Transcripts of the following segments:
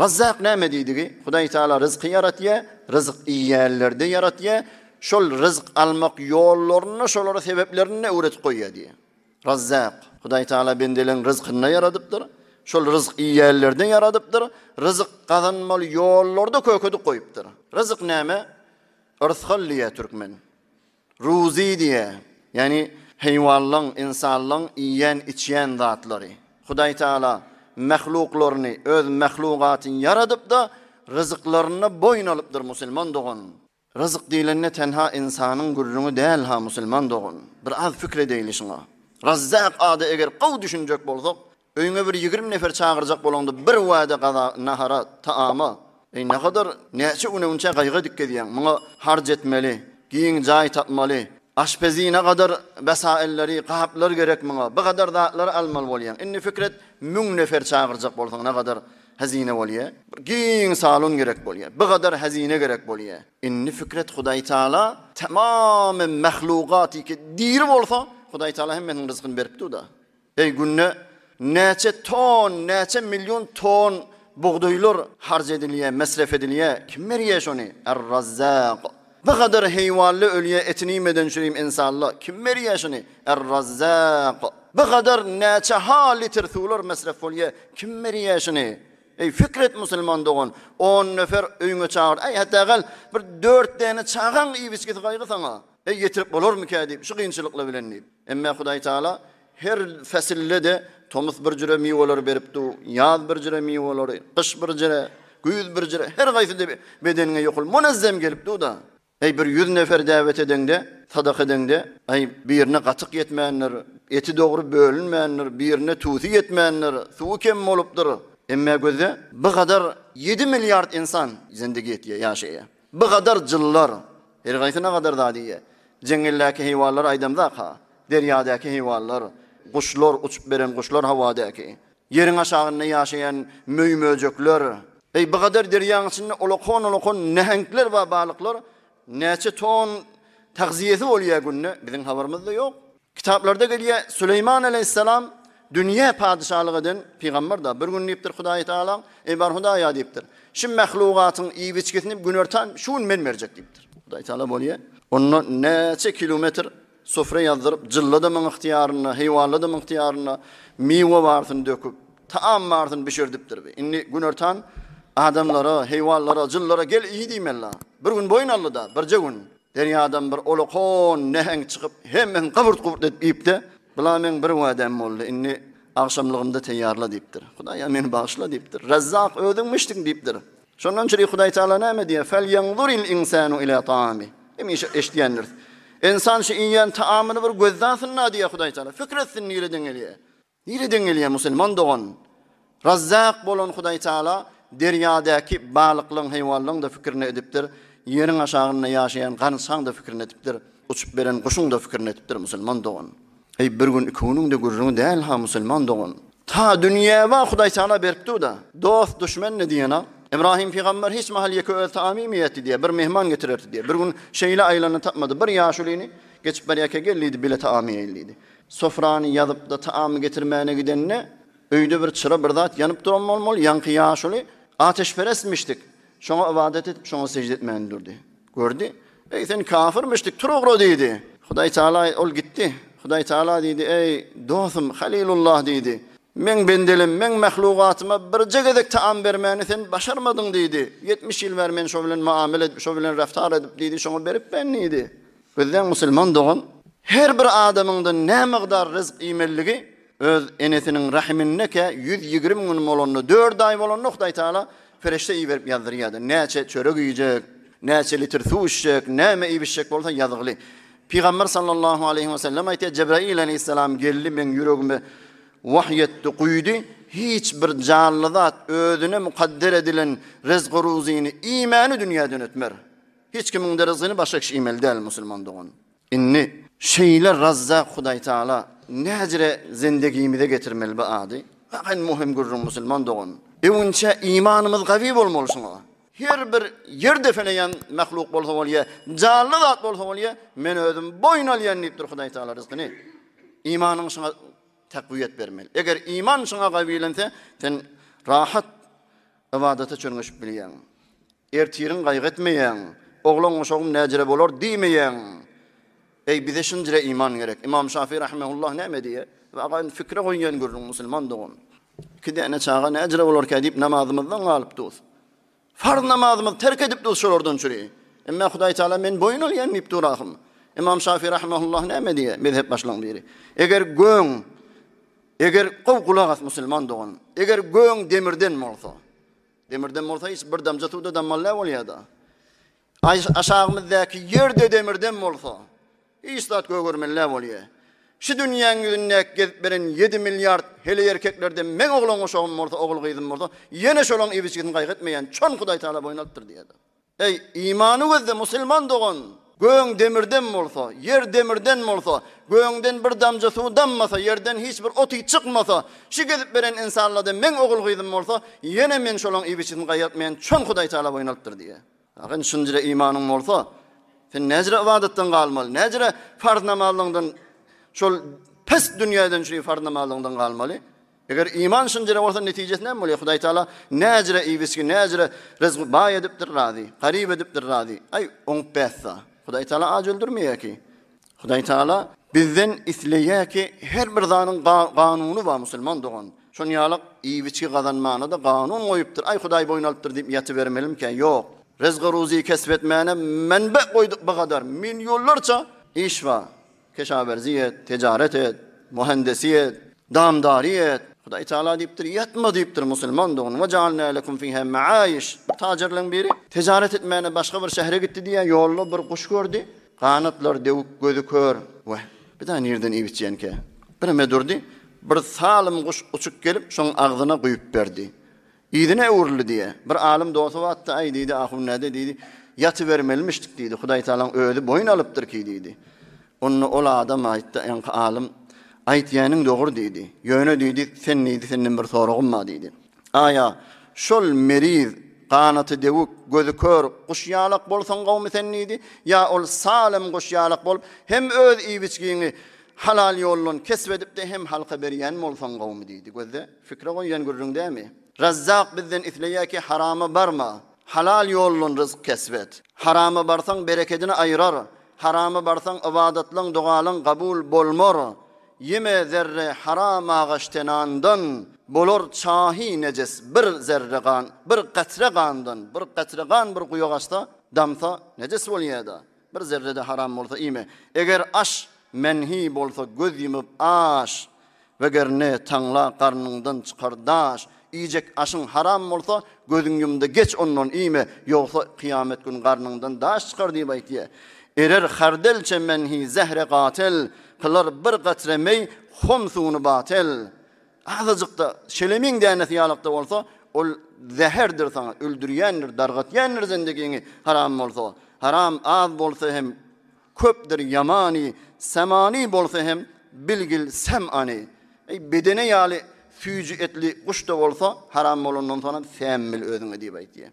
Razzak näme diýdigi? Hudaý Taala ryzky ýaratýar, ryzyk iýýänlerde ýaratýar, şol ryzyk almak ýollaryny-da, şolara sebeplerini-de öwredip goýýar diýýär. Razzak, Hudaý Taala bendeleň ryzkyny-da ýaradypdyr, şol ryzyk iýýänlerde ýaradypdyr, ryzyk gazanmaly ýollary-da kökedip goýupdyr. Ryzyk näme? Yrsgal diýýär türkmen. Ruzy diýýär, ýagny heýwanlaň, ynsanlaň iýýän-içýän zatlary. Hudaý Tagala mahluklaryny, öz mahlugatyny ýaradyp-da, ryzyklarynda boýun alypdyr, musulman dogan. Ryzyk diýlende tenha ynsanyň gürrüňi däl-ha, musulman dogan. Bir az pikir edeýli şuňa. Razzak ada eger gowy düşünjek bolsak, Öýüňe bir ýigrimi nefer çagyrjak bolaňda bir wada gaza nahara, taama, eý ne kadar näçe uneunçä gaýga edip gezýäň, muňa harc etmeli, giň jaý tapmaly, aşpezine gadar wesailleri, gaplar gerek muňa, bu gadar zatlary almaly bolýaň. Indi pikir et, müň nefer çagyrjak bolsaň ne gadar hezine bolýa. Bir giň salon gerek bolýa, bu gadar hezine gerek bolýa. Indi pikir et Hudaý Taala tamamy mahlugatyky diri bolsa, Hudaý Taala hemmesiniň ryzkyny berip durda. Eý günde näçe ton näçe million ton bugdaýlar harc edilýä mesref edilýä kim berýä şony er razzak bu gadar heýwanly ölýä etini iýmeden çürim insanla kim berýä şony er razzak bu gadar näçe ha litr suwlar mesref bolýä kim berýä şony Eý fikret musulman dogan 10 nefer öýüňe çagyr eý hata gal bir 4 däne çagaň iýip içgisi gaýgy saňa. Eý, ýetirip bolarmykä diýip, şu kynçylyklar bilen diýip. Emmä Hudaý Taala her päsilde-de tomus bir jüre miweleri berip dur, ýaz bir jüre miwelary, gyş bir jüre, güýz bir jüre, her haýsy-da bedeniňe ýokul munazzem gelip dur-da. Eý, bir ýüz nefer däwet edeňde, sadaka edeňde, eý, birine gatyk ýetmändir, eti dogry bölünmändir, birine tusy ýetmändir, suwy kem bolupdyr. Emmä gözle, bu gadar ýedi milliard insan zendigi etýär, ýaşaýar. Bu gadar jyllar, her haýsy ne gadar zat iýe. Jeňňeldäki heýwanlary aýdamzak-ha, derýadäki heýwanlar, guşlar, uçup beren guşlar howadäki, ýeriň aşagynda ýaşaýan möý-möjekler, eý, bu gadar derýaň içinde ulakon-ulakon näheňkler bar, balyklar, näçe ton tagziýesi bolýa günde, biziň habarymyz-da ýok. Kitaplarda gelýär, Süleýman aleýhissalam dünýä padyşalyk eden pygamberdir. Bir gün diýipdir Hudaýy Tagala, Eý bar Hudaýa diýipdir, şu mahlugatyň iýip-içgisini günortan şu gün men berjek diýipdir. Hudaýy Tagala bolýar, onda näçe kilometr sufra ýazdyryp, jylladymyň ygtyýarynda, heýwanladymyň ygtyýarynda miwe barysyny döküp, taam barysyny bişirdipdir. Bi indi günortan adamlara, heýwanlara, jyllara gel iý diýmeli-la. Bir gün boýun aldy-da, birje gün. Derýadan bir ulakon näheňk çykyp, hemmesini gyburt-guburt edip iýipdi. Bula meň bir wädäm boldy, indi agşamlygymda teýýarla diýipdir. Hudaýa meni bagyşla diýipdir. Rezzak özüňmişdiň diýipdir. Şondan çyri Hudaý Tagala näme diýýär? Felýanzuril ynsanu ila taami. Hemişe eşidýändiris. Ynsan şu iýýän taamyny bir gözläsin-la diýýär Hudaý Tagala. Pikir etsin nireden gelýär. Nireden gelýär musulman dogan? Razzak bolan Hudaý Taala derýadäki balyklaň, heýwanlaň-da pikirini edipdir, ýeriň aşagynda ýaşaýan garynçaň-da pikirini edipdir, uçup beren guşuň-da pikirini edipdir musulman dogan. Eý bir gün iki günüň-de gürrüňi däl-ha musulman dogan. Ta dünýä bar Hudaý Taala berkdi-da, dost, duşmen-de diýen-a. Ybrahym pygamber hiç mahal ýeke özi taam iýmeýärdi diýýär, bir myhman getirerdi diýýär. Bir gün şeýle aýlanda tapmady, bir ýaşulyny geçip barýarka gel diýdi, bile taam iýeýin diýdi. Sofrany ýazyp-da taam getirmäne gidende, öýde bir çyra, bir zat ýanyp duran bolmaly, ýaňky ýaşuly ateşperestmişdik. Şoňa ybadat edip, şoňa sežde etmäni durdy. Gördi. Eý, sen kafirmişdik, tur ugra diýdi. Hudaý Tagala, ol gitdi. Hudaý Tagala diýdi, Eý, dosum, Halilullah diýdi. Meň bendelim, meň mahlugatyma birje gezek taam bermäni sen başarmadyň diýdi. Ýetmiş ýyl bäri men şo bilen muamele edip, şo bilen reftar edip diýdi, şoňa beripmen diýdi. Gözleň musulman dogan, her bir adamyňdan nämygdar ryzk iýmelidigi öz enesiniň rahimindeke ýüz ýigrimi gün bolanda, dört aý bolanda Hudaýtagala perişde iberip ýazdyrýardy. Näçe çörek iýjek, näçe litr suw içjek, näme iýip-içjek bolsa ýazgyly. Pygamber sallallahu aleýhi we sellem aýtýar, Jebraýyl aleýhissalam geldi, meň ýüregime wahy ýetdi, guýdy, hiç bir janly zat özüne mukadder edilen ryzgy-ruzyny iýmäni dünýäden ötmer. Hiç kimiň de ryzgyny başga kişi iýmeli däl, musulman dogan. Indi, şeýle Razzak Hudaýtagala näjre zendegimize getirmeli bu ady? Bak indi möhüm gürrüň, musulman dogan. Öňünçä imanymyz gawy bolmaly şuňa. Her bir ýer depeneýän mahluk bolsa bolýa, janly zat bolsa bolýa, men özüm boýun alýan diýipdir Hudaýtagala ryzkyny. Imanyň şuňa takwiýet bermeli. Eger iman şuňa gawylense, sen rahat ybadata çörňeşip bilýäň. Ertiriň gaýgy etmeýäň. Oglan goşagym näjire bolar diýmeýäň. Eý, bize şinjire iman gerek. Ymam Şafyý rahimehullah näme diýýär? Ýa agaýyn fikre goýýan gürrüň musulman dogan. Iki däne çaga näjire bolarkä diýip namazymyzdan galypdus. Farz namazymyzy terk edipdus şolardan çüri. Emmä Hudaý Taala men boýun alýan diýip dur ahym. Ymam Şafyý rahimehullah näme diýýär? Mezhep başlygyň biri. Eger göň Eger gowy gulak as musulman dogan. Eger göň demirden bolsa. Demirden bolsa hiç bir damja suwda dammaly däl bolýada. Aşagymyzdaky ýerde demirden bolsa hiç zat gögermeli däl bolýa. Şu dünýäň ýüzündäki gezip beren ýedi milliard heleý erkeklerden meň oglan-guşagym bolsa, ogul-gyzym bolsa ýene şolaň ibiçgisini gaýgy etmeýän çon Hudaýtagala boýun alypdyr diýýädi. Eý, imany gözli musulman dogan! Göň demirden bolsa, ýer demirden bolsa, göňden bir damja suw dammasa, ýerden hiç bir ot-iý çykmasa, şu gezip beren insanlardan meň ogul-gyzym bolsa, ýene men şolaň iýbiçisini gaýyrtmaýan çon Hudaýtagala boýun alypdyr diýýär. Aga, indi şunjire imanyň bolsa, sen näjire ybadatdan galmaly, näjire farz namazlaňdan, şol pis dünýäden çüri farz namazlaňdan galmaly? Eger iman şynjyra bolsa netijesi näme bolýar? Hudaý Taala näcire iwisgi, näcire ryzgy baý edipdir razy, garyp edipdir razy. Aý, oňup bäsda. Hudaý Taala aç öldürmeýär ki. Hudaý Taala bizden isleýär ki, her bir zadyň ganuny bar musulman dogan. Şon ýalak iwisgi gazanmana-da ganun goýupdyr. Aý, Hudaý boýun alypdyr diýip ýatybermelimkä? Ýok. Ryzgy-ruzy kesp etmäne menbe goýduk bu gadar, millionlarça iş bar. Keşawerzi et, tejaret et, muhandesi et, damdary et. Hudaý Taala diýipdir, Ýatma diýipdir musulmandygyny. Ve jaalne lekum fiha maayiş. Bir tajerleň biri tejaret etmäne başga bir şähere gitdi diýýär, ýolda bir guş gördi. Ganatlary dewük, gözi kör. Weh, bir zat nirden iýip içýänkä? Bireme durdy. Bir salym guş uçup gelip, şoň agzyna guýup berdi. Yzyna öwrüldi diýýär. Bir alym dosy wagtda, Aý, diýdi, ahun-näde, diýdi, ýatybermelimişdik, diýdi, Hudaýtagalaň Özi boýun alypdyr ki, diýdi. Onda ol adam aýtdy, ýaňky alym, Aýtýäniň dogry, diýdi. Ýöne, diýdi, sen, diýdi, senden bir soragym bar, diýdi. Aý-a, şol meriz, ganaty dewük, gözi kör guş ýalak bolsaň gowumy sen, diýdi, ýa ol salym guş ýalak bolup, hem öz iýip-içgiňi halal ýoldan kesp edip-de, hem halka berýän bolsaň gowumy, diýdi. Gözle. Fikre goýan gürrüň dämi? Razzak bizden isleýär ki harama barma, halal ýoldan ryzk kesp et. Harama barsaň berekedini aýrar, harama barsaň ybadatlaň dogalaň gabul bolmar. Ýeme zerre haram agaç tenandan, bolar çahy nejes bir zerre gan, bir gatre gandan, bir gatre gan bir guýa gaçsa, damsa nejes bolýada. Bir zerre-de haram bolsa iýme. Eger aş menhi bolsa göz ýumup aş. Weger ne taňla garnyňdan çykar daş. Iýjek aşyň haram bolsa gözüň ýumda geç ondan iýme, ýogsa kyýamet gün garnyňdan daş çykar diýip aýtýa. Erer hardelçe menhi zähre gatyl, kylar bir gatre meý hom suwny batyl. Azajyk-da, şelemiň dänesi ýalak-da bolsa, ol zäherdir saňa, öldürýändir, dargatýandyr zendegiňi, haram bolsa. Haram az bolsa hem köpdir ýamany, sämany bolsa hem bilgil säm-any. Eý, bedene ýaly süýji etli guş-da bolsa, haram bolandan soňam säm bil özüňe diýip aýtýar.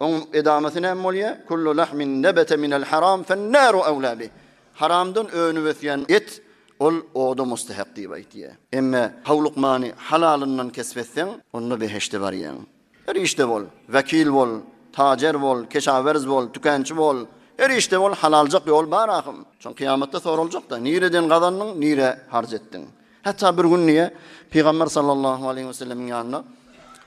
Oň edamasy näme bolýar? Kullu lahmin nebete minel haram fennaru awla bih. Haramdan önüp ösýän et ol oda mustahak diýip aýtýar. Emma howlukmany halalyndan kesp etseň, onda beheşde barýaň. Her işde bol, wekil bol, tajer bol, keşawerz bol, tükänçi bol, her işde bol, halaljak ýol bar ahym. Soň kyýamatda soraljak-da, nireden gazandyň, nirä harç etdiň? Hatda bir gün diýýär, Pygamber sallallahu aleýhi we sellemiň ýanyna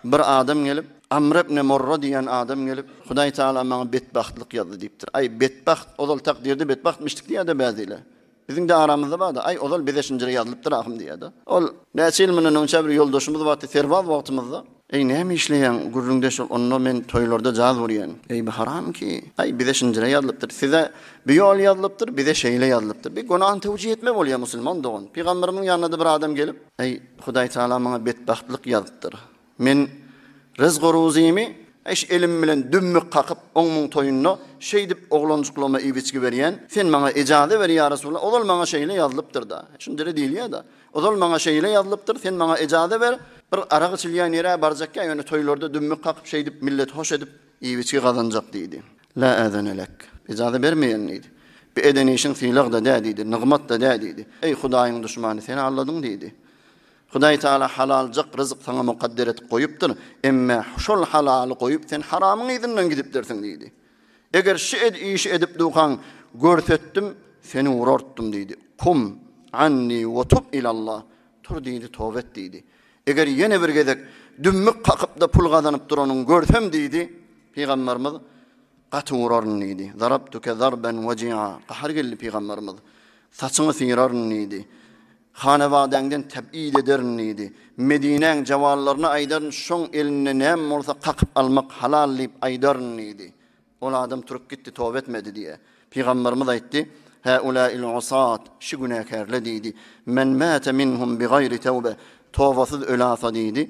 bir adam gelip, Amr ibn Murra diýýän adam gelip, Hudaý Tagala maňa betbagtlyk ýazdy diýipdir. Aý, betbagt, ozal takdyrda betbagtmyşdyk diýýär-de bäziler. Biziň-de aramyzda bar-da, Aý, ozal bize şinjire ýazylypdyr ahym diýýär-de. Ol, näçe ýyl mundan öňçä bir ýoldaşymyz bardy, serbaz wagtymyzda. Eý näme işleýäň gürrüňdeş bol onda men toýlarda jaz urýan. Eý bu haram ki. Aý bize şinjire ýazlypdyr size bu ýol ýazlypdyr bize şeýle ýazlypdyr bir gunany tewjih etme bolýa musulman dogan pygamberimiň ýanyna da bir adam gelip Eý hudaý taala maňa betbagtlyk ýazypdyr men ryzk oruzymy eş elim bilen dümmük kakyp oň muň toýunda şeýdip oglanjyklama iýip içgi berýän sen maňa ejaze ber ýa resulallah ozal maňa şeýle ýazlypdyr da şinjire diýilýa da. Ozal maňa şeýle ýazylypdyr, sen maňa ejaze ber, bir arak içilýän ýere barjakka, ýöne toýlarda dümmük kakyp şeýdip milleti hoş edip, iýip-içgi gazanjak diýdi. La äzene lek, ejaze bermeýän diýdi. Bu eden işiň sylag-da dä diýdi, nygmat-da dä diýdi. Eý Hudaýyň duşmany, seni alladyň diýdi. Hudaý Taala halaljyk ryzyk saňa mukadder edip goýupdyr, emme şol halaly goýup sen haramyň yzyndan gidipdirsiň diýdi. Eger şu işi edip dukaň görsetdim seni urartdym diýdi. Kum anni we tub ilallah. Tur diýdi toba et diýdi. Eger ýene bir gezek dümmük kakypda pul gazanyp duranyň görsem diýdi Pygamberimiz gaty uraryn diýdi. Zarabtuke zarben waji'a. Gahar geldi Pygamberimiz. Saçyňy syraryn diýdi. Hanabadaňdan tebid ederin diýdi. Medinäň jawallaryna aýdaryn, şoň elinde näme bolsa kakyp almak halal diýip aýdaryn diýdi. Ol adam turup gitdi, toba etmedi diýe. Pygamberimiz aýtdy, Häulâil usat, şu günäkärle diýdi, Men mâte minhum bigaýri tewbe, tobasyz ölasa diýdi,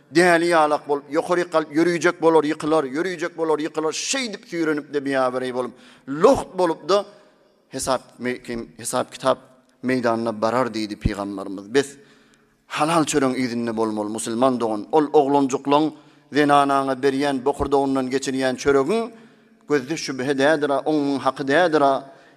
Däli ýalak bolup, ýokaryk galyp ýörüjek bolar, ýykylar, ýörüjek bolar, ýykylar, şeýdip süýrenip-de biabereý bolup, lugt bolup-da hesap meýkem, hesap-kitap meýdanyna barar diýdi pygamberimiz. Bes, halal çöregiň yzynda bolmaly, musulman dogan, ol oglanjyklaň zenanaňa berýän bokurdagyndan geçirýän çöregiň gözde şübhe dädir-a, oňňun haky dädir-a,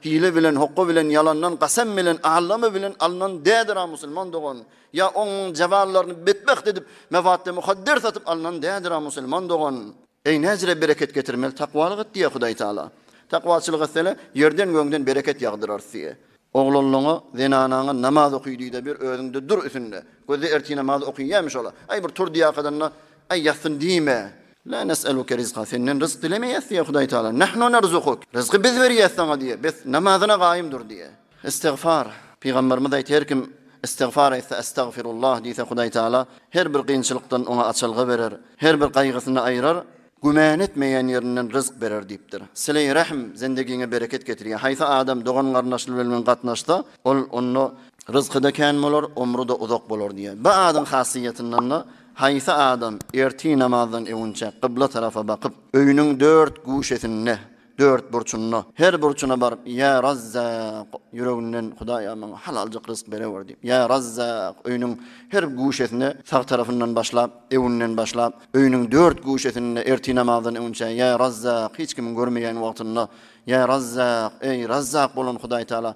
hile bilen, hokga bilen, ýalandan, gasam bilen, aldama bilen alnan dädir-a, musulman dogan. Ýa oňň zewallaryny betbagt edip, mewaddä mukadder satyp alnan däldir-a musulman dogan? Eý näzire bereket getirmeli takwalyk et diýýä Hudaý Taala. Takwaçylyk etsene, ýerden gögden bereket ýagdyrarys diýýä. Oglanlaňa, zenanaňa namaz oky diýde bir özüňde dur üsünde. Gözde ertir namaz okyýämiş ola. Aý bir tur diýakadan-da, aý ýatsyn diýme. La nes'eluke rizqa, senden ryzk dilemeýäs diýýä Hudaý Taala. Nahnu nerzukuk, ryzky biz berýäs saňa diýýä. Bes, namazyna gaýym dur diýýä. Istigfar, Pygamberimiz aýt her kim istigfar aýtsa Estagfirullah diýse Hudaý Taala her bir kynçylykdan oňa açylgy berer, her bir gaýgysyny aýrar, güman etmeýän ýerinden ryzk berer diýipdir. Sileý Rahm zendegiňe bereket getirýär. Haýsy adam dogan garyndaşly bilen gatnaşsa ol onda ryzkyda kän bolar, omruda uzak bolar diýär. Bi adyň hasyýetindanda haýsy adam ertir namazdan öwünçäk gybla tarafa bakyp, öýüniň dört guşesinde Dört burçunda, her burçuna baryp, Ýa Razzak! Ýüreginden, Hudaýa, maňa halaljyk rysk berewer diýip, Ýa Razzak! Öýüniň her guşesine, sag tarapyndan başlap, ewinden başlap, öýüniň dört guşesinde ertir namazdan öňünçä, Ýa Razzak! Hiç kimiň görmeýän wagtynda, Ýa Razzak! Eý, Razzak bolan Hudaýtagala,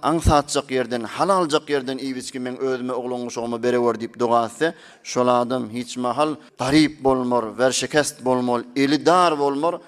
aňsatjak ýerden, halaljyk ýerden iýip-içgi meň özüme, oglan-guşagyma berewer diýip doga etse, şol adam hiç mahal garyp bolmar, werşekest bolmar, eli dar bolmar,